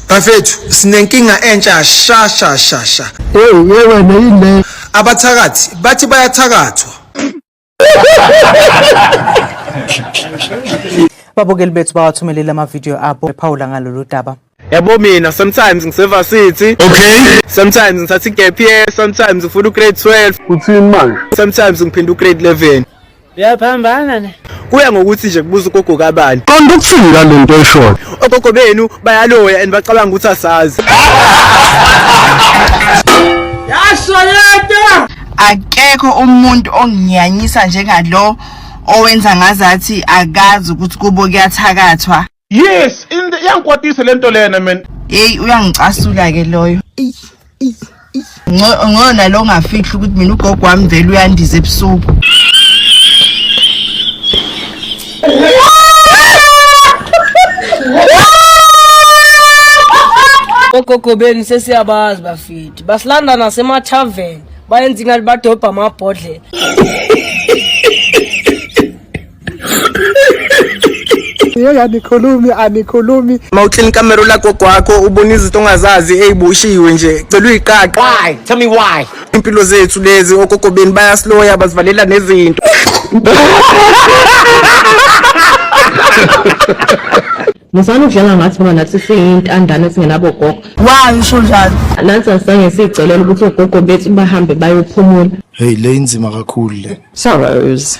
bafethu sinenkinga entsha sha sha sha sha hey yewe neyile abathakathi bathi bayathakathwa babukeli bethu bawathumelele amavidiyo abo ephawula ngalolu daba yabo mina sometimes ngisevasithi okay sometimes ngithatha igap year sometimes ngifuna ugrade 12 uthini manje sometimes ngiphinde ugrade 11 uyaphambana ne kuya ngokuthi nje kubuza ugogo kabani qonda ukuthini ngale nto eshoyo ogogo benu bayaloya and bacabanga ukuthi asazi yashoyeta akekho umuntu onginyanyisa njengalo owenza ngazathi akazi ukuthi kubo kuyathakathwa yes into iyangikwatisa lento lena man hey uyangicasula ke loyo ngona lo ngafihla ukuthi mina ugogo wami vele uyandiza ebusuku ogogo benu sesiyabazi bafiti basilanda nasemathaveni bayenza ingathi badobha amabhodlela Yey anikhulumi anikhulumi. Uma uclean camera lagogo wakho ubona izinto ongazazi eyiboshiwe nje. Cela uyiqaqa. Why? Tell me why. Impilo zethu lezi ogogo beni bayasiloya bazivalela nezinto. Musani ukudlala ngathi ngoba nathi siyintandane esingenabo gogo. Why usho njalo? Nathi asange sicelela ukuthi ogogo bethu bahambe bayophumula. Hey le inzima kakhulu le. Sorrows.